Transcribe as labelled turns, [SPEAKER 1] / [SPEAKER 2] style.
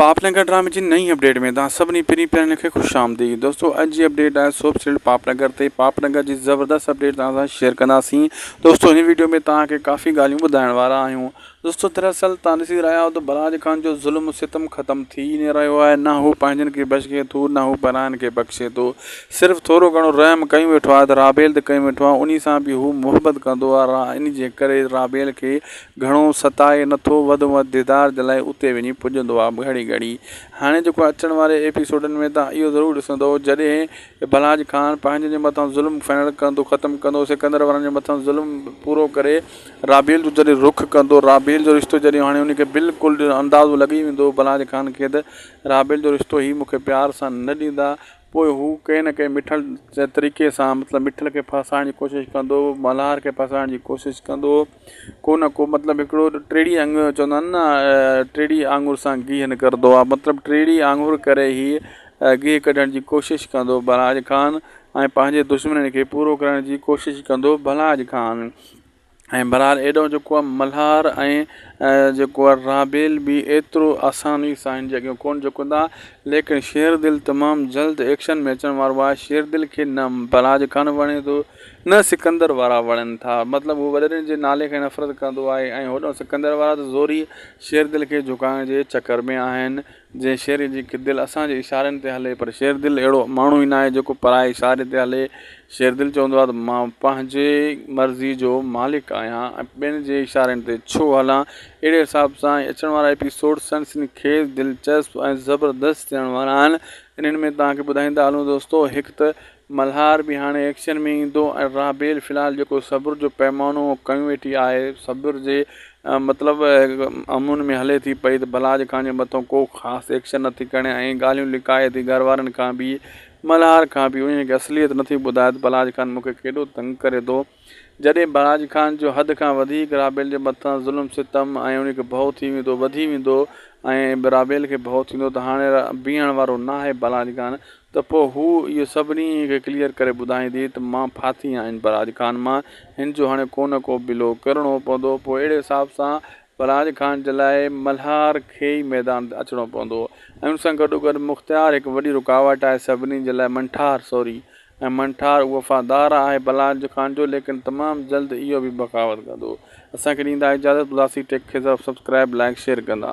[SPEAKER 1] پاپ نگر ڊرامي جي نئين اپڊيٽ ۾ توهان سڀني پرين پيارن کي خوش آمديد دوستو اڄ جي اپڊيٽ آهي سوپ سلٽ پاپ نگر تي پاپ نگر جي زبردست اپڊيٽ توهان سان شيئر ڪنداسين دوستو هن ويڊيو ۾ توهان کي ڪافي ڳالهيون ٻڌائڻ وارا آهيون دوستو دراصل توهان ڏسي رهيا آهيو ته براج خان جو ظلم و ستم ختم ٿي نه رهيو آهي نه هو پنهنجن کي بخشي ٿو نه هو پراين کي بخشي ٿو صرف ٿورو گهڻو رحم ڪيون ويٺو آهي ته رابيل تي ڪيون ويٺو آهي انهي سان به هو محبت ڪندو آهي ان جي ڪري رابيل کي گهڻو ستائي نٿو وڌ ۾ وڌ ديدار جي لاء اتي وڃي پڄندو آ گهڙي گهڙي هاڻي جيڪو اچڻ واري ايپيسوڊن ۾ توهان اهو ضرور ڏسندو جڏهن ڀلاڄ خان پنهنجن جي مٿان ظلم فنڻ ڪندو ختم ڪندو سڪندر وارن جي مٿان ظلم پورو ڪري رابيل جو جڏهن رخ ڪندو رابيل جو رشتو جڏهن هاڻي ان کي بلڪل اندازو لڳي ويندو ڀلاڄ خان کي ته رابيل جو رشتو هي مون کي پيار سان نه ڏيندا پوء هو ڪنهن نه ڪنهن مٺل طريقي سان مطلب مٺل کي ڦاسائڻ جي ڪوشش ڪندو ملهار کي ڦاسائڻ جي ڪوشش ڪندو ڪو نه ڪو مطلب هڪڙو ٽيڙي انگ چوندا آهن نه ٽيڙي آڱر سان گيهه نڪرندو آهي مطلب ٽيڙي آڱر ڪري هي گيهه ڪڍڻ جي ڪوشش ڪندو بلراج خان ۽ پنهنجي دشمنن کي پورو ڪرڻ جي ڪوشش ڪندو بلراج خان ۽ بهرحال ايڏو جيڪو آهي ملهار ۽ جيڪو آهي رابيل به ايترو آساني سان هن جي اڳيان ڪون جهڪندا ليڪن شيردل تمام جلد ايڪشن ۾ اچڻ وارو آهي شيردل کي نه بلراج خان وڻي ٿو نه سڪندر وارا وڻن ٿا. مطلب هو وڏيرن جي نالي کان نفرت ڪندو آهي ۽ هوڏانهن سڪندر وارا ته زوريء شيردل کي جهڪائڻ جي چڪر ۾ آهن. جنهن شيري جي دل اسان جي اشارن تي هلي پر شيردل اهڙو ماڻهو ئي ناهي جيڪو پرائي اشاري تي هلي. شيردل چوندو آهي ته مان پنهنجي مرضيء جو مالڪ آهيان ۽ ٻين جي اشارن تي ڇو هلان. اهڙي حساب سان هي اچڻ وارا ايپيسوڊ سنسني خيز، دلچسپ ۽ زبردست ٿيڻ وارا آهن. انهن ۾ توهان کي ٻڌائيندا هلون دوستو هڪ ته ملهار به هاڻي ايڪشن ۾ ايندو ۽ رابيل في الحال جيڪو صبر جو پيمانو کنيو ويٺي آهي صبر جي مطلب امن ۾ هلي ٿي پئي ته بلاج خان جي مٿو ڪو خاص ايڪشن نه ٿي کڻي ۽ ڳالهيون لڪائي ٿي گهر وارن کان به ملهار کان به انهي کي اصليت نه ٿي ٻڌائي ته بلاج خان مون کي ڪيڏو تنگ ڪري ٿو جڏهن بهراج خان جو حد کان وڌيڪ رابيل جي مٿان ظلم ستم ۽ ان کي ڀؤ ٿي ويندو وڌي ويندو ۽ رابيل کي ڀؤ ٿيندو ته هاڻي بيهڻ وارو ناهي بهراج خان ته پوء هوء اهو سڀني کي ڪليئر ڪري ٻڌائيندي ته مان ڦاٿي آهن بهراج خان مان هن جو هاڻي ڪونه ڪو بلو ڪرڻو پوندو پوء اهڙي حساب سان پراج خان جي لاء ملهار کي ئي ميدان تي اچڻو پوندو هو ۽ ان سان گڏوگڏ مختيار هڪ وڏي رڪاوٽ آهي سڀني جي لاء منٺار سوري ۽ منٺار وفادار آهي پراج خان جو ليڪن تمام جلد اهو به بغاوت ڪندو اسان کي ڏيندا اجازت پلاسي ٽيڪ کي سبسڪرائب لائيڪ شيئر ڪندا.